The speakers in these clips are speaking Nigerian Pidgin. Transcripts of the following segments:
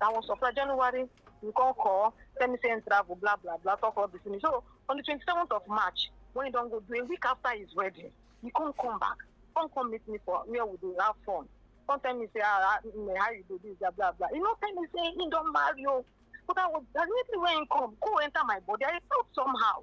that one supply january you come call tell me say him travel blah blah blah talk all this to me so on the twenty-seventh of march when he don go do a week after his wedding he come come back come come meet me for where we dey have fun come tell me say ah ah mm, how you dey do blah blah blah he no tell me say he don marry o but i was as immediately when he come go enter my body i felt somehow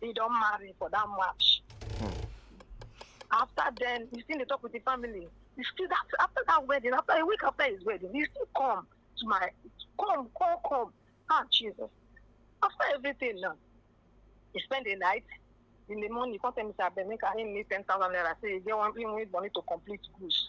he don marry for that march. Hmm. After then, he still dey talk with the family. He still that after that wedding, after a week after his wedding, he still come to my come, come, come. Ah, Jesus. After everything now, he spend the night. In the morning, he come tell me, say, abeg, make I him need 10,000 naira. Say, he get one, he need money to complete goods.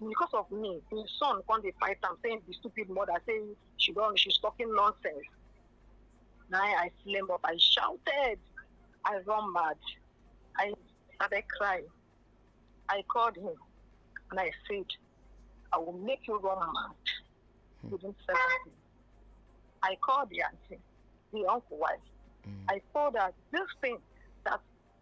because of me im son come dey fight am say im be stupid mother say she don she's talking nonsense na i flame up i shouted i run mad i started crying i called him and i said i will make you run mad hmm. within seven days i called the auntie the uncle wife mm. i told her this thing that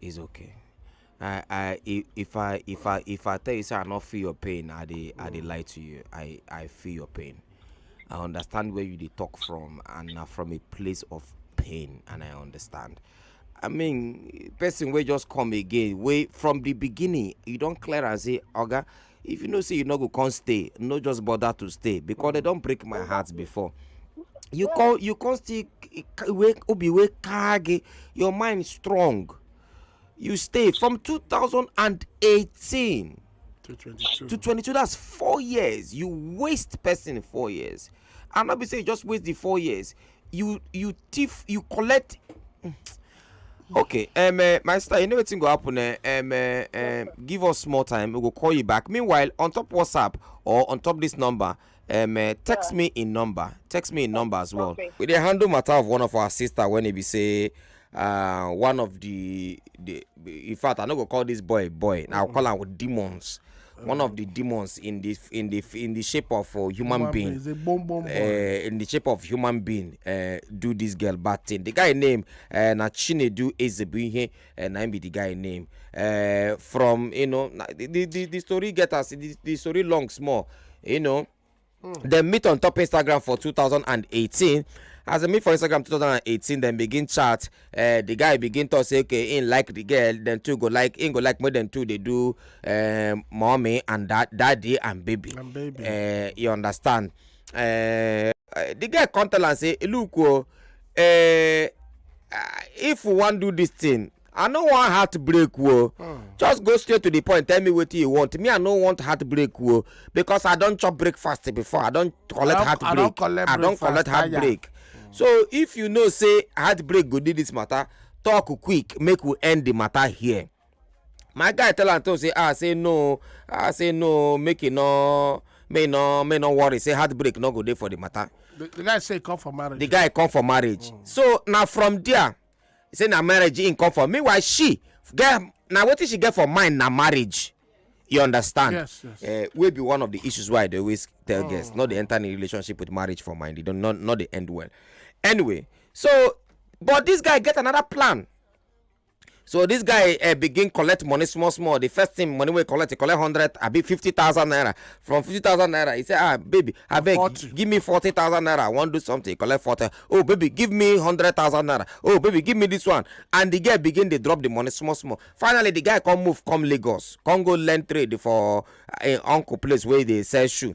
It's okay. I I i- if I if I if I tell you say I no feel your pain, I dey I dey lie to you. I I feel your pain. I understand where you dey talk from and na from a place of pain and I understand. I mean person wey just come again wey from the beginning you don clear am say oga if you know say you no go come stay no just bother to stay because they don break my heart before you come you come still wey obi wey kage your mind strong you stay from 2018 to 22 to 22 that's four years you waste person four years and no be say you just waste the four years you you thief you collect mm. okay um, uh, my sister you know wetin go happen uh, um, uh, um, give us small time we go call you back meanwhile on top whatsapp or on top this number um, uh, text yeah. me in number text me in number as well okay. we dey handle matter of one of our sister when e be say uh, one of the the in fact i no go call this boy boy na i call am with demons one of the demons in the in the in the shape of a uh, human, human being, being. Bomb, bomb, uh, in the shape of human being uh, do this girl bad thing the guy name uh, na chinedu ezebunhe uh, na him be the guy name uh, from you know the the the story get us the, the story long small you know dem meet on top instagram for 2018 as dem meet for instagram 2018 dem begin chat uh, the guy begin talk say okay him like the girl dem two go like him go like make dem two dey do uh, mommy and da daddy and baby, and baby. Uh, you understand uh, the guy come tell am say look o oh, uh, uh, if we wan do this thing i no wan heartbreak o just go straight to the point tell me wetin you want me i no want heartbreak o because i don chop breakfast before i don collect don- I heartbreak don collect i don breakfast, collect tire. heartbreak so if you know say heartbreak go do this matter talk quick make we end the matter here my guy tell am to say ah say no ah say no make e no make e no make e no worry say heartbreak no go dey for the matter The, the guy say he come for marriage. the guy come for marriage so na from there he say na marriage him come for meanwhile she get na wetin she get for mind na marriage you understand yes, yes. Uh, wey be one of the issues why i dey always tell oh. guests not dey enter any relationship with marriage for mind e don not not dey end well anyway so but this guy get another plan so this guy uh, begin collect money small small the first thing money wey collect he collect hundred abi fifty thousand naira from fifty thousand naira he say ah baby abeg give me forty thousand naira i wan do something he collect forty oh baby give me hundred thousand naira oh baby give me this one and the girl begin dey drop the money small small finally the guy come move come lagos come go learn trade for im uncle place wey dey sell shoe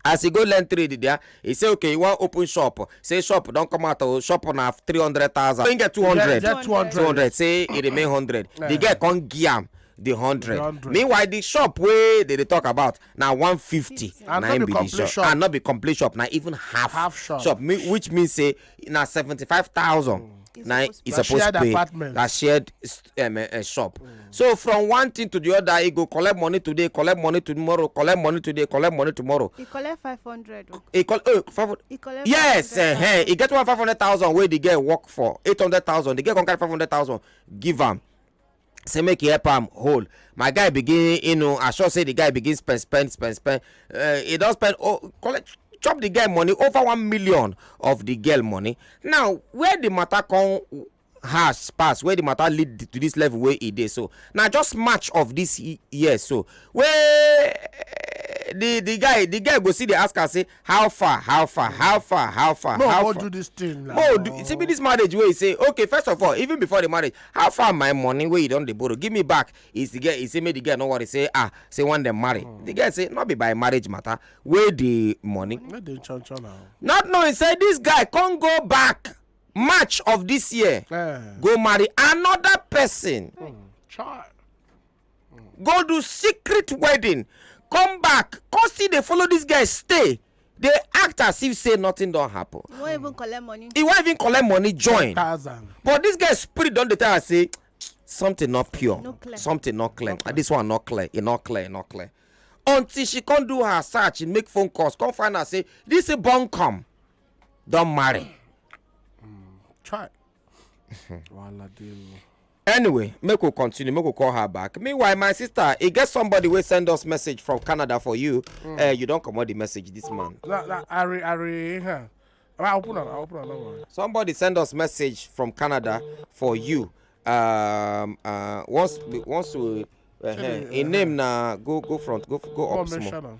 as e go learn trade there e say okay e wan open shop say shop don come out o shop na three hundred thousand im get two hundred Get- get 200. two hundred say e remain hundred the girl come give am the hundred meanwhile the shop wey dey dey talk about na 150 And na no im be be the complete shop shop. and no be complete shop na even half, Half shop. mi- which mean say na 75000 na e Na suppose shared pay apartment. na shared s- um, uh, shop so from one thing to the other e go collect money today collect money tomorrow collect money today collect money tomorrow e collect five hundred o e call oh five hundred e collect yes five hundred uh-huh. e get one five hundred thousand wey the girl work for eight hundred thousand the girl come carry five hundred thousand give am say make he help am hold my guy begin you know i sure say the guy begin spend spend spend spend uh, he don spend oh collect chop the girl money over one million of the girl money now where the matter come has pass where the matter lead to this level wey e dey so na just march of this year so wey eh, the the guy the guy go see the ask am say how far how far how far how far no, how far do this thing now. no do, see be this marriage wey say okay first of all even before the marriage how far my money wey you don dey borrow give me back is the girl he say make the girl no worry say ah say one dem marry mm. the girl say no be by marriage matter wey the money. no dey chan chan now. not knowing say this guy come go back march of this year. Eh. go marry another person. Mm. child. go do secret wedding come back come still dey follow this guy stay dey act as if say nothing don happen You won't even collect money. he wan even collect money join thousand. but this guy spirit don dey tell am say something not pure No clear. something not clear and this one not clear e not clear e not clear until she come do her search and make phone calls come find out say this thing born come don marry Try. Wahala dey o. anyway make we continue make we call her back meanwhile my sister e get somebody wey send us message from canada for you mm. uh, you don comot the message this man. na na ari ari huh. i open am i open am no worry. somebody send us message from canada for you um, uh, once once we uh, him name na go go front go go up small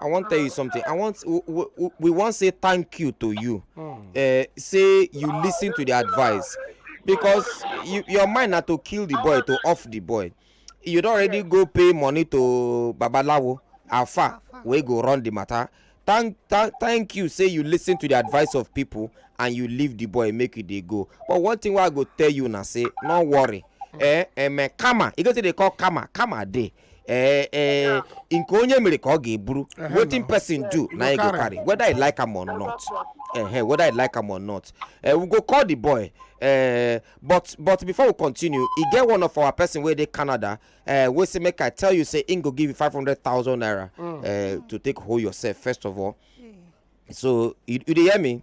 i wan tell you something i want we wan say thank you to you hmm. eh, say you listen to the advice because you, your mind na to kill the boy to off the boy you don already go pay money to babalawo alfa wey go run the matter thank thank thank you say you listen to the advice of people and you leave the boy make you dey go but one thing wey i go tell you na say no worry eh eh karma e go say dey call karma karma dey ee ee nke onye mere ka ọ ga-eburu Ehe, wetin no. person do na you go carry. carry whether you like am or not ehe whether you like am or not eh, we go call the boy eh, but but before we continue e get one of our person wey dey canada eh, wey say make i tell you say im go give you five hundred thousand naira eh, to take hold yourself first of all so you you dey hear me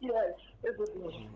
yes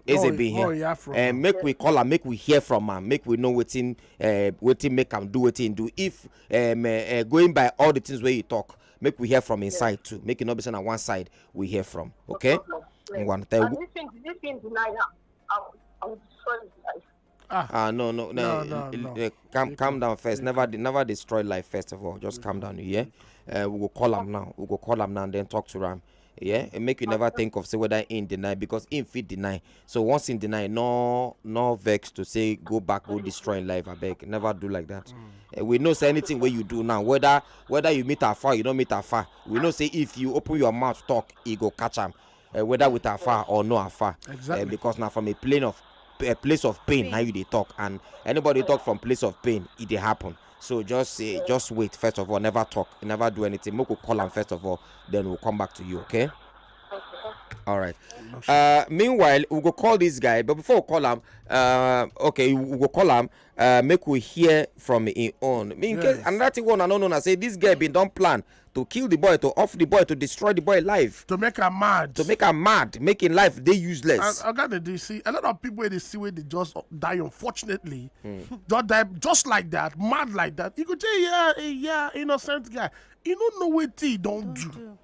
ezebin oh, here oh, eh, make we call am make we hear from am make we know wetin eh, wetin make am do wetin im do if um, uh, going by all the things wey you talk make we hear from inside yes. too make e no be say na one side we hear from okay. No problem, yes. and if im deny am i will destroy his life. Ah, ah no, no, no, no, no. Uh, calm, calm down first. Never, never destroy life. First of all, just calm down. Yeah, uh, we go call him now. We go call him now and then talk to him. Yeah, and make you never think of say whether in deny because in fit deny. So once in deny, no, no vex to say go back, go destroy life. I beg, never do like that. Mm. Eh, we know say anything wey you do now whether whether you meet afar you no meet afar we know say if you open your mouth talk e go catch am uh, whether with afar or no afar eh, exactly. uh, because now from a plane of a place of pain, pain. now you they talk and anybody talk from place of pain it they happen so just say uh, just wait first of all never talk never do anything make we call am first of all then we'll come back to you okay. All right. Uh, meanwhile, we go call this guy, but before we call him, uh, okay, we go call him. Uh, make we hear from him own. Me, in yes. case another thing one I don't know, I say this guy been done plan To kill the boy, to off the boy, to destroy the boy life, to make am mad to make am mad, make im life dey and useless. oga dey dey see a lot of people wey dey see wey dey just die unfortunately just die just like that mad like that you go say yeah eh, yeah innocent guy you no know wetin he don do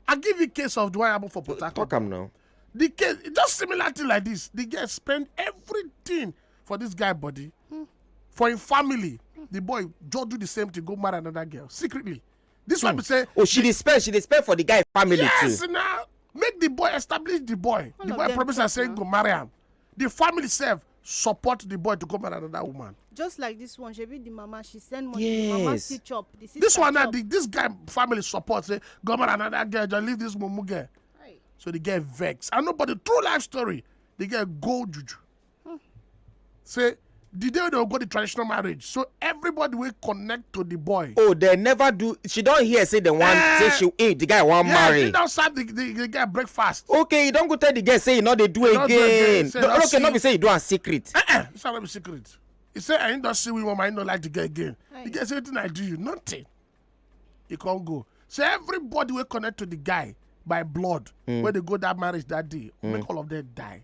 i give you case of the one happen for port harcourt Talk am now. the case just similar thing like this the girl spend everything for this guy body mm. for him family mm. the boy just do the same thing go marry another girl secretly this mm. one be hmm. say. oh she dey spend she dey spend for the guy family yes, too. yes na make the boy establish the boy All the boy promise am say he go marry am the family sef support the boy to go marry another woman. just like this one she be the mama she send money yes. the mama still chop the sister this one na the this guy family support say go marry another girl just leave this mumu girl. Right. so the girl vex and nobody true life story the girl go juju Hmm. Say the day they go the traditional marriage so everybody will connect to the boy. oh they never do she don't hear say the one uh, say she eh the guy wan yeah, marry. yeah she don't serve the, the the guy breakfast. okay you don't go tell the guy say you no dey do again. do again say, no, okay see... no be say you do am secret. Uh -uh. it's not be secret he say i don't see woman i no like the guy again Aye. the guy say wetin i do you nothing he can't go so everybody will connect to the guy by blood mm. wey dey go that marriage that day mm. make all of them die.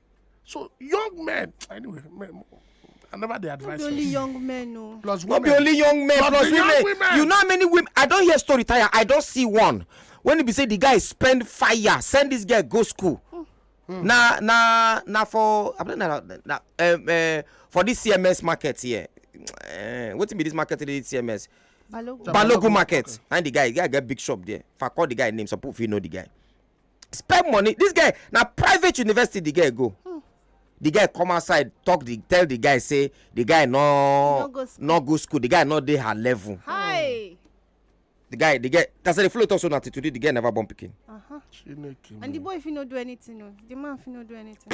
so young men anyway men, I never dey advise. No be only young men o. Plus women. No be only young men plus, plus women. Young women. You know how many women? I don hear story tire. I don see one when e be say the guy spend fire send this girl go school. Mm. Mm. Na na na for I don't know na, na um, uh, for this CMS market here. Uh, wetin be this market today CMS? Balogun, Balogun market. Okay. And the guy, the guy get big shop there. If I call the guy name, some people fit know the guy. spend money this guy na private university the guy go hmm. the guy come outside talk the tell the guy say the guy no no go school, no go school. the guy no dey her level. Hi. Hmm. the guy the guy that's the flow talk so na till today the guy never born pikin. Uh -huh. and the boy fit no do anything o oh. the man fit no do anything.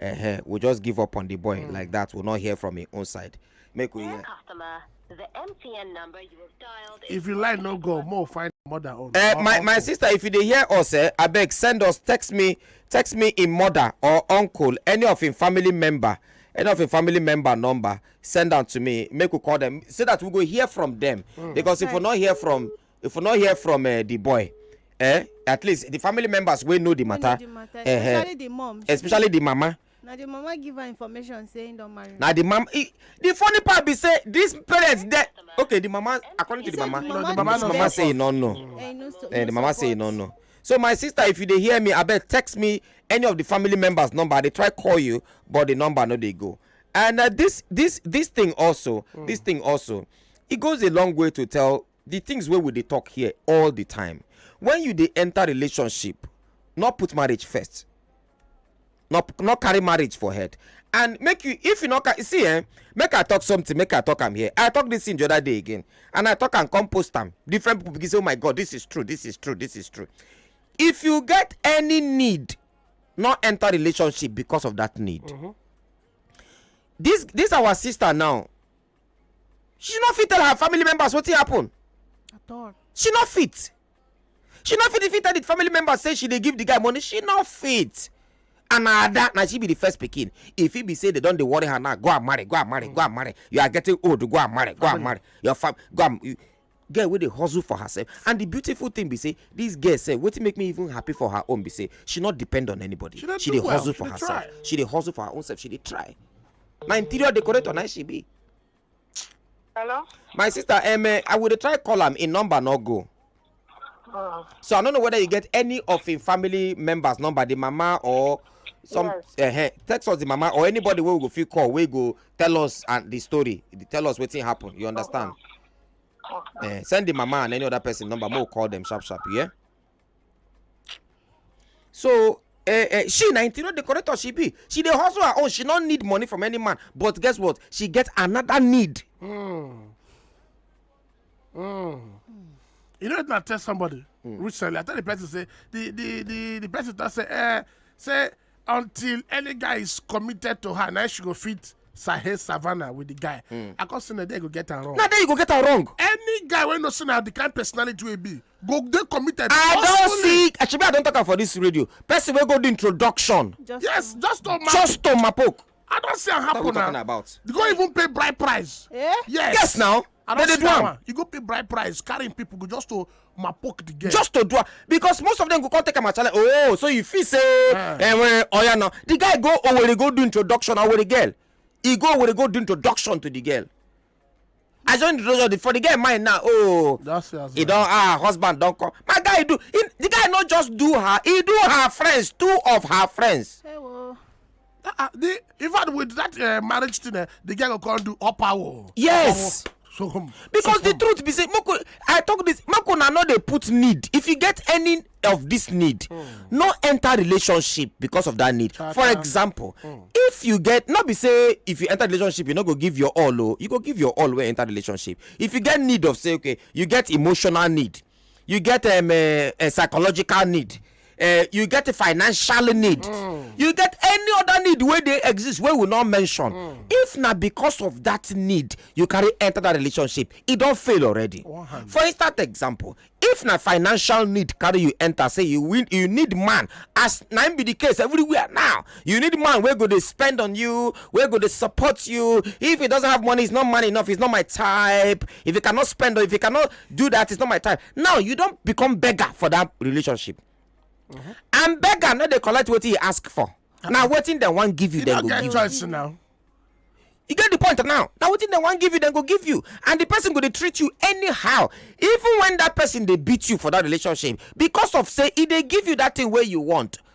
uh-huh. we just give up on the boy mm. like that we not hear from him own side make we hear. customer the mtn number you have dialed. if you like no go more find mother own. Uh, my my sister if you dey hear us eh abeg send us text me text me im mother or uncle any of im family member any of im family member number send am to me make we call dem so that we go hear from dem. Mm. because if we no hear from. if we no hear from uh, the boy eh at least the family members wey know the matter, the matter. Uh, especially the mom especially the mama na the mama give her information say he don marry na the mama the funny part be say this parents dey okay the mama according to the mama no the mama, mama say he no know eh, the mama say he no know so my sister if you dey hear me abeg text me any of the family members number i dey try call you but the number no dey go and uh, this this this thing also mm. this thing also it goes a long way to tell the things wey we dey talk here all the time when you dey enter relationship no put marriage first no no carry marriage for head and make you if you no ca- see eh make i talk something make i talk am here i talk this thing the other day again and i talk am come post am different people begin say oh my god this is true this is true this is true if you get any need no enter relationship because of that need this this our sister now she no fit tell her family members wetin happen at all she no fit she no fit fit tell the family members say she dey give the guy money she no fit and na ada na she be the first pikin e fit be say they don dey worry her now go and marry go and marry go and marry you are getting old go and marry go and marry your fam go and girl wey dey hustle for herself and the beautiful thing be say this girl sef wetin make me even happy for her own be say she not depend on anybody She dey she do dey well, hustle she for dey herself try. she dey hustle for her own self she dey try na interior decorator na she be Hello? my sister um, eh, i will dey try call am im number no go Uh, so i no know whether you get any of im family members number the mama or some Yes. uh, text us the mama or anybody wey we go fit call wey go tell us and the story tell us wetin happen you understand Okay. Uh, send the mama and any other person number. More call them sharp sharp. Yeah. So uh, uh, she na interior decorator she be she dey hustle her own she no need money from any man but guess what she get another need. Mm. Mm. you know na tell somebody mm. recently i tell the person say the the the the person talk say eh say until any guy is committed to her na she go fit sahe savannah with the guy hmm. i come say na there go get am wrong na there you go get am wrong any guy wey no say na the kind personality wey be go dey committed i don see shebi i don talk am for this radio person wey go do introduction yes just to mapok just to mapok i don see am happen na you go even pay bride price eh? yes yes now I They don dey see do that am. one. You go pay bride price, carrying people go just to mapoke the girl. just to do am because most of them go come take am as challenge oh so you feel say Ah. eh, well, oya now the guy go owere go do introduction owere girl he go owere go do introduction to the girl as your introduction the- for the girl mind now oh That's it as he well. don ah husband don come my guy do he, the guy no just do her he do her friends two of her friends Hey, well. Ah, ah, the in fact with that uh, marriage thing uh, the girl go come do upper wall. yes. Upper wall. So, um, because so, the um, truth be say moko i talk this moko na no dey put need if you get any of this need mm. no enter relationship because of that need Chaka. for example mm. if you get not be say if you enter relationship you no go give your all o oh, you go give your all wey enter relationship if you get need of say okay you get emotional need you get um, a, a psychological need uh, you get a financial need mm. you get any other need wey dey exist wey we no mention mm. if na because of that need you carry enter that relationship e don fail already for instance example if na financial need carry you enter say you win you need man as na im be the case everywhere now you need man wey go dey spend on you wey go dey support you if he doesn't have money he's not man enough he's not my type if he cannot spend or if he cannot do that it's not my time now you don become beggar for that relationship and beggar no dey collect wetin he ask for na wetin dem wan give you You dem don't go get give you choice now. you get the point now na wetin dem wan give you dem go give you and the person go dey treat you anyhow even when that person dey beat you for that relationship because of say e dey give you that thing wey you want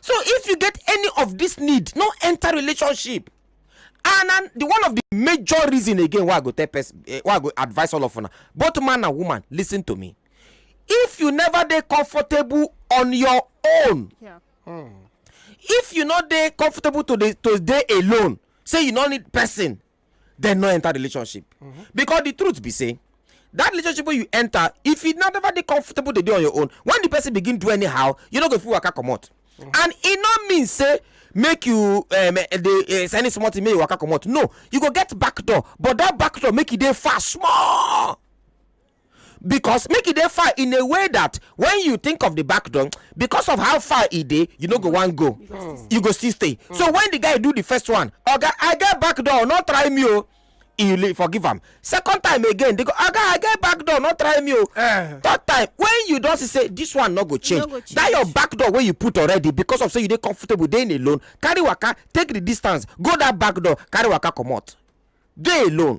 so if you get any of this need no enter relationship and and the one of the major reason again why i go tell person eh, why i go advise all of una both man and woman listen to me if you never dey comfortable on your own yeah. mm. if you no dey comfortable to dey to dey alone say you no need person dem no enter relationship mm-hmm. because the truth be say that relationship wey you enter if you never dey comfortable dey dey on your own when the person begin do anyhow you no go fit waka comot mm-hmm. and e no mean say make you um, eh, dey eh, send small thing make you waka comot no you go get back door but that back door make e dey far small because make e dey far in a way that when you think of the back door because of how far e dey you no go wan go you go still stay so when the guy do the first one oga i get back door no try me o you leave forgive am second time again they go oga i get back door no try me o Eh. third time when you don see say this one no go change go that change. your back door wey you put already because of say you dey comfortable dey alone carry waka take the distance go that back door carry waka comot dey alone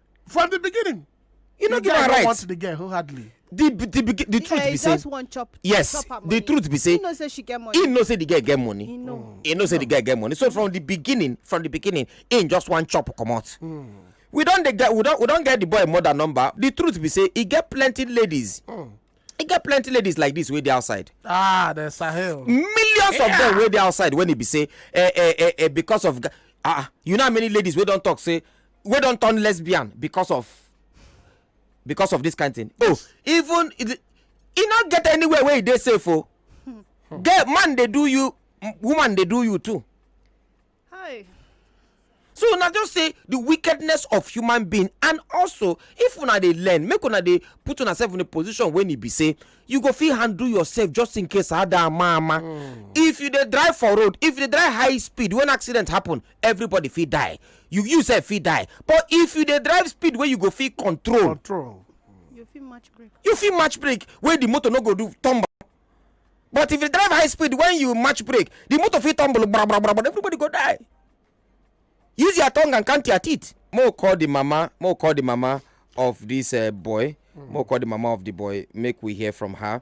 from the beginning you no give am right want the girl wholeheartedly the the the, the truth be say chop, yes chop the truth be say he know say she get money he know say the girl get money he know, mm. he know say the girl get money so from the beginning from the beginning he just wan chop comot mm. we don dey get we don we don get the boy mother number the truth be say he get plenty ladies mm. he get plenty ladies like this wey dey outside ah the sahel millions yeah. of them wey dey outside when he be say eh eh eh eh because of ah you know how many ladies wey don talk say wey don turn lesbian because of because of this kind thing oh even e no get anywhere wey e dey safe o oh. girl man dey do you woman dey do you too hi so una just say the wickedness of human being and also if una dey learn make una dey put una self in a position when e be say you go fit handle yourself just in case ada mama mm. if you dey drive for road if you dey drive high speed when accident happen everybody fit die you you sef fit die but if you dey drive speed wey you go fit control control you fit match brake you fit match brake wey the motor no go do turn back but if you drive high speed when you match brake the motor fit tumble bra bra bra bra everybody go die use your tongue and count your teeth mo call the mama mo call the mama of this uh, boy mm. mo call the mama of the boy make we hear from her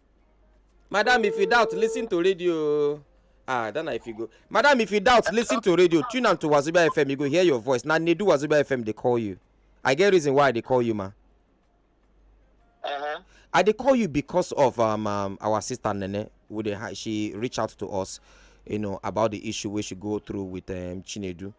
madam if you doubt listen to radio ah then i fit go madam if you doubt listen to radio tune am to wazobia fm you go hear your voice na nedu wazobia fm dey call you i get reason why i dey call you ma. Uh-huh. I they call you because of um, um our sister Nene. Would she reach out to us, you know, about the issue we should go through with um Chinedu.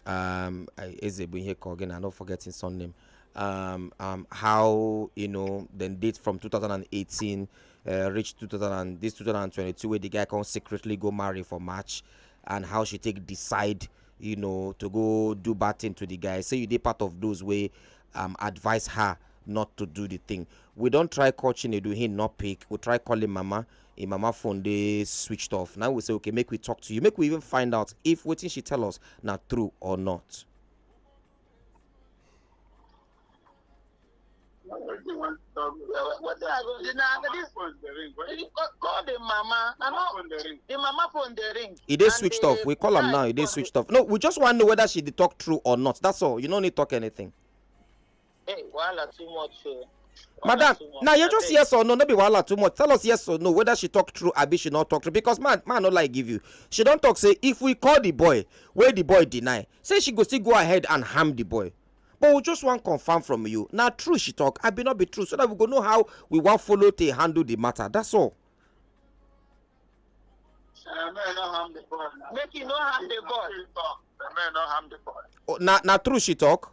um, I- Eze bụ ihe ka ọ gị na no forgetting son name um, um, how you know then date from 2018 uh, reach 2000 and this 2022 where the guy can secretly go marry for March and how she take decide you know to go do bad thing to the guy say you did part of those way um, advise her not to do the thing we don't try call Chinedu he not pick we try calling mama im mama phone dey switched off na we say okay make we talk to you make we even find out if wetin she tell us na true or not. wetin i go do now na this call the mama i no the mama phone dey ring. e dey switched off we call am now e dey switched off no we just wan know whether she dey talk true or not that's all you no need talk anything. Hey, wahala too much o. madam now you just yes or no no be wahala too much tell us yes or no whether she talk true abi she no talk true because man man no lie give you she don talk say if we call the boy wey the boy deny say she go still go ahead and harm the boy but we just wan confirm from you na true she talk abi no be true so that we go know how we wan follow take handle the matter that's all. make you no harm the boy. Oh, na na true she talk.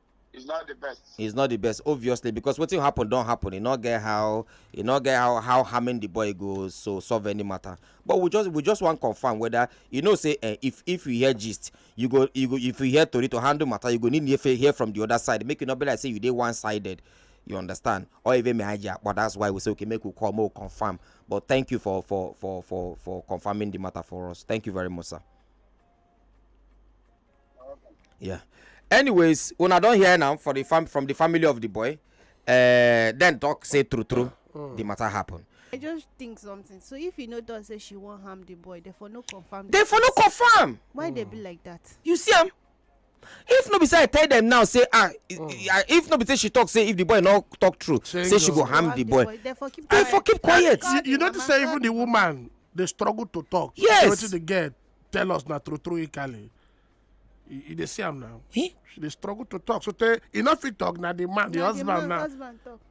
He's not the best. He's not the best, obviously, because what happen don't happen. You not get how you not get how how harming the boy goes so solve any matter. But we just we just want confirm whether you know say uh, if if you hear gist, you go you go if you hear Tori to handle matter, you go need to hear from the other side. Make it not be like say you did one sided. You understand? Or even me hijack, but that's why we say okay, make we call more confirm. But thank you for for for for for confirming the matter for us. Thank you very much, sir. yeah anyways una don hear now for the fam from the family of the boy uh, then talk say true true mm. the matter happen. i just think something so if you know don say she wan harm the boy they for no confirm. they for no confirm. why mm. they be like that. you see am if no be say i tell them now say ah mm. if no be say she talk say if the boy no talk true Change say she go harm the boy, boy. they for keep quiet. They for keep quiet. you, you notice say even the woman dey struggle to talk. yes wetin dey get tell us na true true ikale you dey see am now eh? she dey struggle to talk so tey e no fit talk na the man the husband now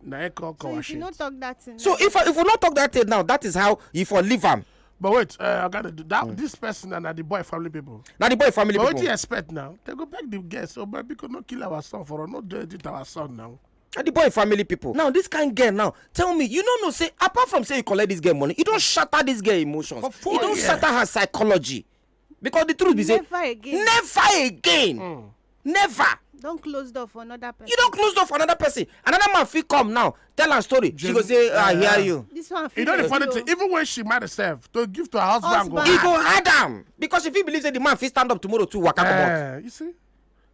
na him come come wash it so if if we no talk that thing now that is how you for leave am but wait uh, oga that mm. this person na the boy family people na the boy family people but wetin you expect now they go beg the guest oh baby no kill our son for no do anything to our son now and the boy family people. now this kind girl now tell me you no know say apart from say you collect this girl money you don shatter this girl emotions you don shatter her psychology because the truth be say never again never again mm. never don close door for another person you don close door for another person another man fit come now tell am story she go say ah, i hear you this one fit you know the funny thing even when she marry herself to give to her husband go hard e go hard am because she fit believe say the man fit stand up tomorrow to waka comot eh, you see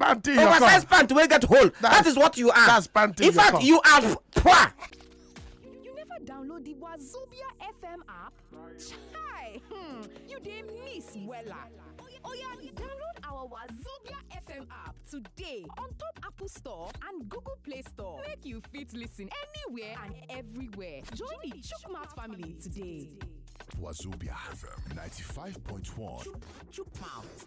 Panty in your cup. oversized pant wey get hole that That's- is what you are that's panty in in your fact cup. you are poor You never download the Wazobia FM app? Chai! Hmm, you dey miss wella. Oya, oya, download our Wazobia FM app today on top Apple Store and Google Play Store. Make you fit listen anywhere and everywhere. Join the Chukmat family today. Wazobia FM 95.1. Chukmouth.